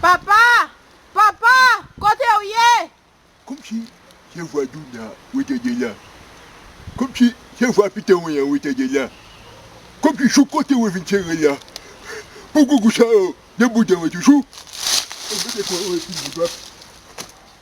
Papa! Papa! Kote w ye? Kòmsi se vwa Douna ou te gen la? Kòmsi se vwa Pete Wen an ou te gen la? Kòmsi jouk kote ou vin sere la? Pou gougou sa yo gen bouden yo toujou? Ou mete kò ou epi ou bwè dwòp.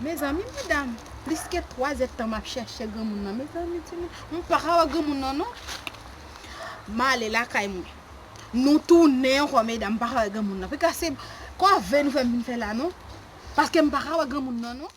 Mezanmi medam plis ke 3 zèd tan map chèche granmoun nan mezanmi ti moun mwen paka wè granmoun nan non male lakay mwen nou tounen ankò medam m paka wè granmoun nan pika se kòve nou fèm vin fè la non paskem paka wè granmoun nan non.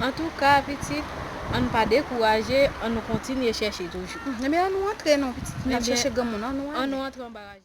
Antouka pitit, an nou pa dekouraje, an nou kontinye chèche toujou. Ebyen an nou antre non pitit, nou tap chèche granmoun an nou ale.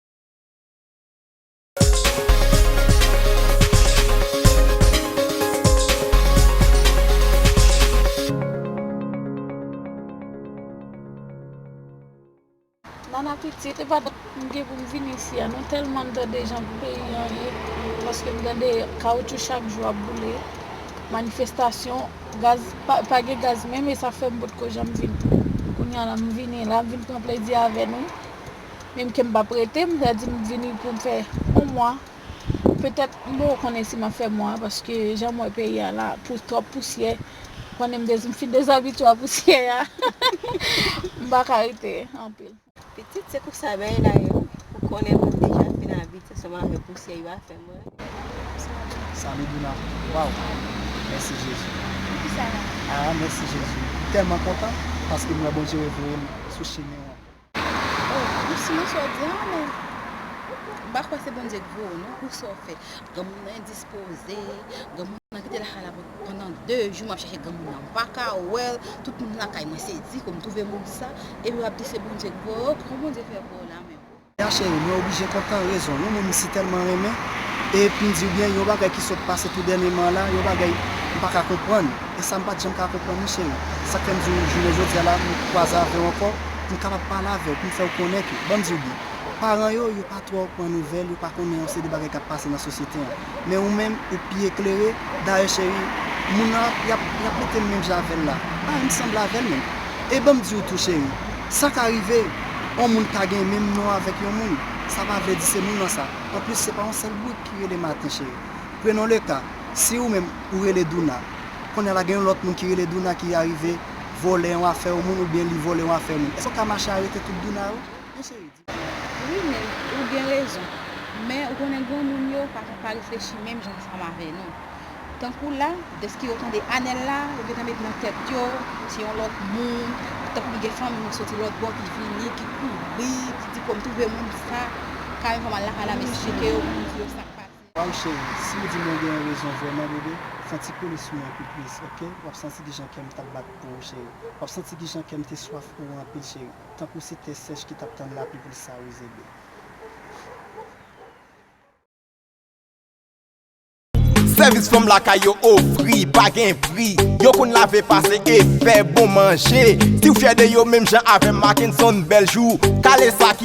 Nana pitit, e pa dat m gen pou m vin isi a non, tèlman m tande jan peyi an ye, paske m tande kawoutchou chak jou ap boule, manifestasyon, gaz, pa gen gaz menm e sa fè m potko janm vin tou. Kounya la m vini la, m vin pran plezi avè nou. menm kem pap rete m ta di m vini poum fè on mwa petèt m poko konnen si map fè mwa paske janm wè peyi a la pou tròp pousyè ou konnen m dezi m fin dezabitye a pousyè a m paka rete anpil. Pitit se konsa bagay la ye wi ou konnen moun deja fin abitye seman avèk pousyè yo a fèm rete. Salut Douna waw mèsi Jezi aa mèsi Jezi m tèlman kontan paske m wè Bondye revoyem sou chemenw an. Oh ou siman sa w di an men m pa kwè se Bondye k voye w non pou sa w fè granmoun nan endispoze granmoun nan kite lakay la pandan 2 jou m ap chèche granmoun nan m pa ka wè l tout moun lakay mwen se di kou m twouve moun sa epi w ap di se Bondye k voye w kòman Bondye fè voye w la menm. Mère chérie, mwen oblije kontan rezon yon moun m si tèlman renmen e pou m di w byen yon bagay ki sot pase tou dènyeman an la yon bagay m pa ka konprann. E sa m pa t janm ka konprann misye non. Sa k fè m di w jounen jodi a la m kwaze avè w ankò, pou m kapab pale avè w, pou m fè w konnen ke, ban m di w byen, paran yo, yo pa twò pran nouvèl, yo pa konnen yon seri de bagay k ap pase nan sosyete an. Men ou menm, ou pi eklere, dayè cheri, moun nan ap, y ap, y ap mete m menm jan avè l la. Parèy m sanble avè l menm. E ban m di w tou cheri, sa ka rive, yon moun ka gen menm non avèk yon moun, sa pa vle di se moun nan sa. Anplis, se pa yon sèl bourik ki rele Maten cheri. Prenons le cas, si ou menm ou rele Douna, kounye a la gen yon lòt moun ki rele Douna ki arive vòlè yon afè yon moun oubyen li vòlè yon afè moun, èske ou ka mache arete tout Douna yo? Yon seri di. Wi men, ou gen rezon. Men, ou konnen granmoun yo pa ka pa reflechi menm jan ansanm avè nou. Tankou la, dèske yo tande Anèl la, yo gentan met nan tèt yo, se yon lòt moun, tankou gen fanmi ki soti lòt bò ki vini, ki kouri, ki di konn twouve moun sa, ka yon fwa m al lakay la m esplike yo, m di yo sa k pase. Waw cheri si ou di mwen gen rezon vrèman bebe fon ti kole sou mwen pi plis ok wap santi kijan kèm tap bat pou ou cheri wap santi kijan kèm te swaf pou ou anpil cheri tankou se tè sèch ki tap tann lapli poul sawoze bebe. Sèvis fanm lakay yo ofri pa gen pri Yo konn lave, pase e fè bon manje Si w fyè de yo menm jan avè m Mackenson Beljou kale sa ki.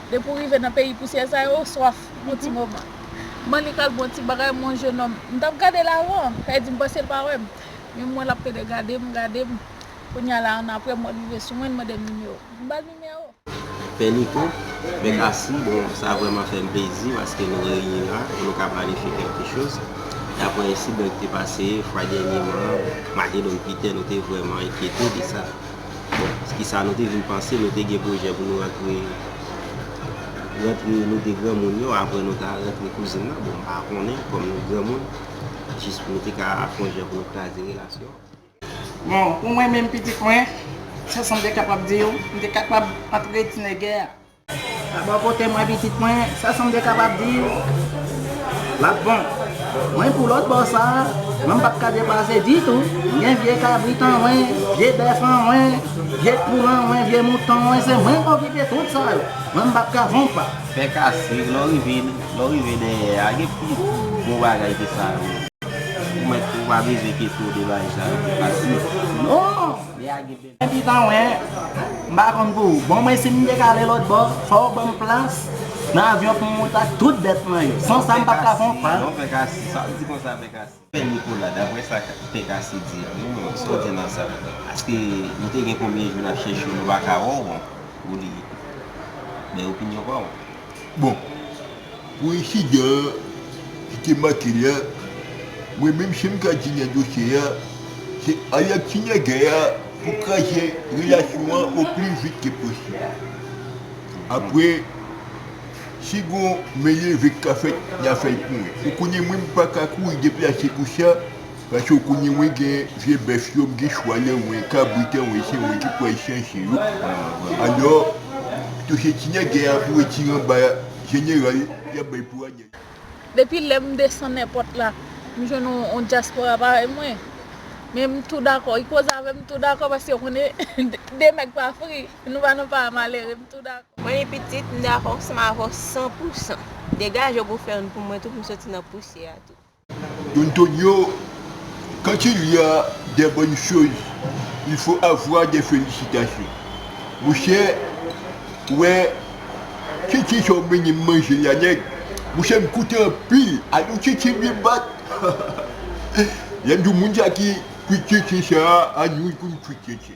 Depi ou rive nan peyi pousyè sa yo, ou swaf pou yon ti moman. M'en li pral bon ti bagay m'en yon jenòm. M'tap gadel avan, e di m'panse li pa wèm. Men m'en l'ap pede gade'm, gade'm. Kounya la annapre m'en rive sou mwen'l mande'm nimewo. M'bal nimewo. Pè Niko, Mèt Asi, bon sa vrèman fè'm plezi paske nou reyini la pou nou ka planifye kèlke choz. Daprè ensidan ki te pase fwa dènyeman, Matedòm Pitè nou te vrèman enkyete de sa. Bon, kisa nou te vin panse, nou te gen pwojè pou nou rantre, rantre nou te granmoun yo, aprè nou ta rantre kouzin nan, bon m pa konnen, kòm nou granmoun, jis pou nou te ka akonje pou nou kraze relasyon an. Bon, pou mwen menm pitit mwen, sa sa m te kapab di yo, m te kapab antre ti nègè a. Bò kote mwen pitit mwen, sa sa m te kapab di w? L ap bon. Mwen pou lòt bò sa a, mwen m pap ka depase ditou. M gen vye kabrit anwen, vye bèf anwen, vye poul anwen, vye mouton anwen, se mwen k okipe tout sa yo. Mwen m pap ka von pa. Fè kasik, lè w rive, lè w rive dèyè a, gen pi bon bagay ke sa yo. Ou mèt, ou pa bezwen kesyon de bagay sa yo pou kasik. Non! Epi pa mwen, m pa konn pou ou. Bon mwen si m dek ale lòtbò, fò w ban m plas nan avyon pou m moute ak tout bèt mwen yo. San sa m pap ka fè yon pa. Non Pèkase, sa w di konsa Pèkase? Pè Nikola, daprè sa Pèkase di a menm, sa w di nan sa? Paske nou te gen konbyen jou n ap chèche w nou pa ka wè w, bon, ou li. Bay opinyon pa w. Bon, pou ensidan an ki te make li an, mwen menm se m k ap di nan dosye an, se Ayat ki nan gè a pou kraze relasyon an o pli vit ke posib. Apre, si gon men leve k ka fèt, n a fè l pou mwen. Ou konnen mwen m pa ka kouri deplase pou sa. Paske kounye mwen gen vye bèf yo, m gen chwal yo, mwen gen kabrit yo, mwen se mwen ki pral chanje yo. Alò, pito se ti nègè a pou retire anba jeneral, y ap bay pou Anèl. Depi lè m desann èpòt la, m jwenn yon dyaspora parèy mwen. Men m tou dakò. Y koze avè m, m tou dakò paske yo konnen de nèg pa fri. Nou pa nan para malere, m tou dakò. Mwen li pitit, m dakò ansanm avè w san pou san. Degaje w pou w fè youn pou mwen tou pou m soti nan pousyè a tou. Don Tonio, quand il y a des bonnes choses, il faut avoir des felicitations. Mouche, ou wè Chichi sa w mennen m manje la nèg, mouche m koute anpil a nou Chichi m vin bat Lè m di w moun sa ki kwit Chichi sa a nou l pou n kwit Chichi.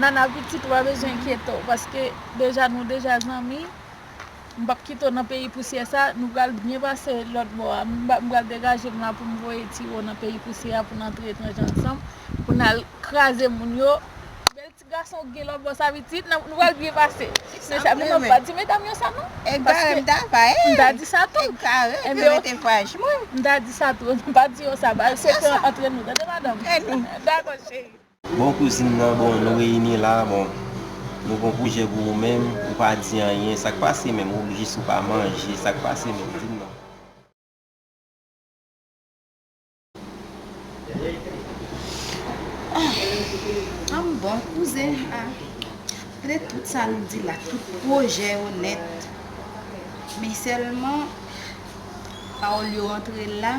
Nana pitit ou pa bezwen enkyete w paske deja nou deja zanmi m pap kite w nan peyi pousyè sa nou pral byen pase lòt bò a m pral degaje m la pou m voye ti wo nan peyi pousyè a pou n antre etranje ansanm pou n al kraze moun yo bèl ti gason w gen lòt bò sa pitit nou pral byen pase se sa men nou pa di medam yo sa non paske m ta di sa tou m ta di sa tou m pa di yo sa ba se pran antre nou tande madanm dako cheri. Bon kouzin nan bon nou reyini la bon nou gon pwojè pou ou menm ou pa di anyen sak pase menm ou jis ou pa manje sak pase menm dim non. Humm bon kouzen ah ple tout sa nou di la tout pwojè yo nèt men sèlman pawòl yo antre la.